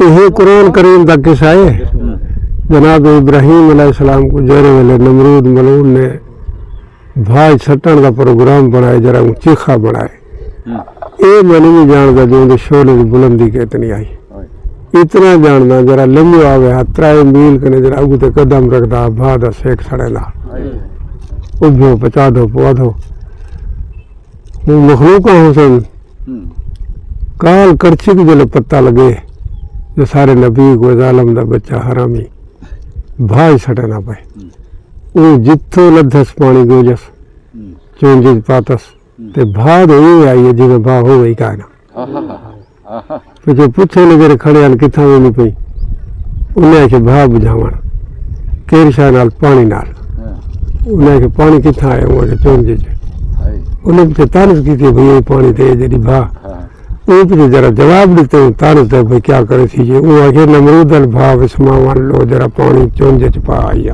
ایہ قرآن کریم دا قصہ ہے جناب ابراہیم علیہ السلام کو جہرے ویلے نمرود ملعون نے بھاج سٹن دا پروگرام بنائے جرا اون چیخا بنائے اے میں نہیں جاندا جو اون دے شعلے دی بلندی کتنی آئی اتنا جاندا جرا لمو آوے ہا ترائے میل کنے جرا اگو تے قدم رکھدا بھا دا سیک سڑے دا اجھو پچا دو پوا دو مخلوقہ حسن کال کرچی کو جلے پتہ لگے جو سارے نبی کو ظالم دا بچہ حرامی بھائی سٹے نہ پائے او جتھو لدھس پانی گو جس چون جت پاتس تے بھا دے اے آئیے جنہ بھا ہو گئی کائنا پچھوں پچھے نے جیرھے کھڑے ہن کتھاں ویندی پئی انہیں آکھیا بھاہ بجھاون کیرھ شاہ نال پانی نال انہیں آکھیا پانی کتھاں آیا ہوں آکھیا چون جی انہیں پچھے تانس کیتی بھئی یہ پانی تے جڑی بھاہ اے پچھے جڑا جواب دیتے ہوں تانس دے بھئی کیا کرے تھی جے انہیں آکھیا نمرود ال بھاہ وسماوان لو جڑا پانی چون جی چپا آیا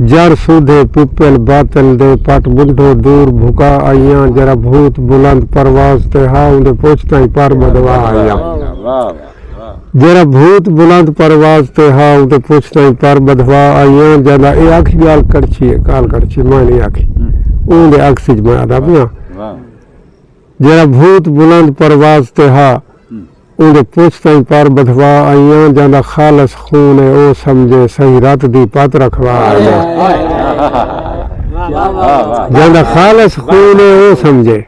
جر سودھے پپل باطل دے پٹ بنڈھو دور بھکا آئیاں جرا بھوت بلند پرواز تے ہا اوندے پچھ تائیں پر بدوا آئیاں جرا بھوت بلند پرواز تے ہا اوندے پچھ تائیں پر بدھوا آئیاں جاندا اے آکھ گال کڑچھی اے گال کڑچھی میں نہیں آکھی اوندے عکس اچ میں آدا پیاں جیہڑا بھوت بلند پرواز تے ہا، اوندے پچھ تئیں پر بدھوا آئیاں جاندا خالص خون اے او سمجھے سئیں رت دی پت رکھوا آئیاں جاندا خالص خون اے او سمجھے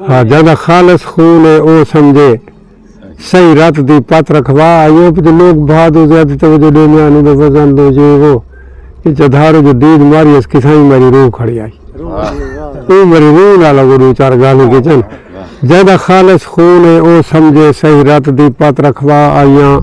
ہا جاندا خالص خون اے او سمجھے۔ سئیں رت دی پت رکھوا ایوب دے لوک بھا دو زیادی توجہ ڈے میاں نو دے وزن دو جے وہ اے چدھارو جو دید ماری اس کسائیں میری روح کھڑی آئی اوں میری روح نالا گو دو چار گالیں کیچن جے دا خالص خون اے او سمجھے سئیں رت دی پت رکھوا ایاں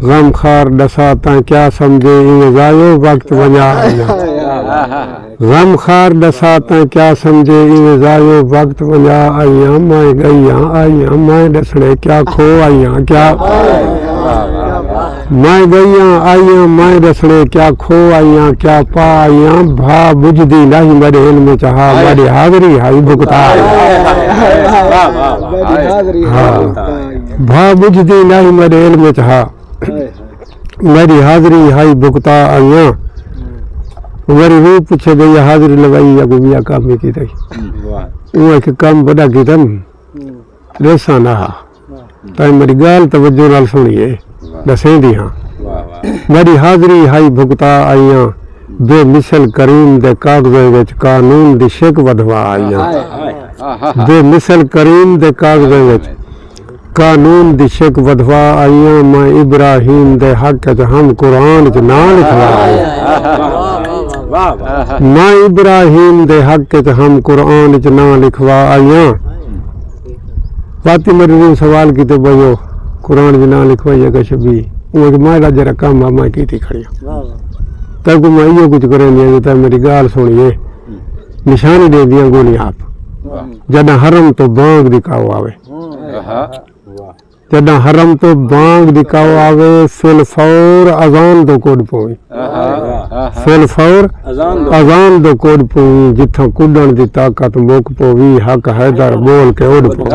غم خار ڈسا تاں کیا سمجھے ایں ازایو وقت ونجا ایاں غم خار ڈسا تاں کیا سمجھے ایویں ضائیو وقت ونجا آئیاں مائیں گئیاں آئیاں مائیں ڈسڑے کیا کھو آئیاں کیا مائیں گئیاں آئیاں مائیں ڈسڑے کیا کھو آئیاں کیا پا آئیاں بھا بجھدی لاہی میڈے علم چ ہا میڈی حاضری ہائی بھگتا آئیاں بھا بجھدی لاہی میڈے علم چ ہا میری حاضری ہائی بھگتا آئیاں میری روح پوچھے گئی حاضری لگائی یا گمیا کام ہی کی تھی وہ ایک کام بڑا کی تھا ریسا نہ ہا تاہی میری گال توجہ نال سنی ہے دسیں دی ہاں میری حاضری ہائی بھگتا آئیاں بے مثل کریم دے کاغذیں وچ قانون دی شک ودھوا آئیاں بے مثل کریم دے کاغذیں وچ قانون دی شک ودھوا آئیاں میں ابراہیم دے حق اچ ہم قرآن اچ ناں لکھوا آئیاں میں ابراہیم دے حق اچ ہم قرآن اچ ناں لکھوا آئیاں فاطمہ رضی سوال کیتے بھائیو قرآن اچ ناں لکھوائی اگا شبی اوں اچ میں دا جڑا کم ہے میں کیتی کھڑی ہاں تاں کو میں ایو کچھ کریں دیاں جو تاں میری گال سنیے نشانی دے دیاں گونی آپ جڑا حرم تو بانگ دی کاؤ آوے جݙاں حرم توں بانگ دی کاؤ آوے سل فور اذان دو کڈھ پوویں سل فور اذان دو کڈھ پوویں جتھاں کڈھݨ دی طاقت مک پووی حق حیدر ٻول کے اڈھ پوویں۔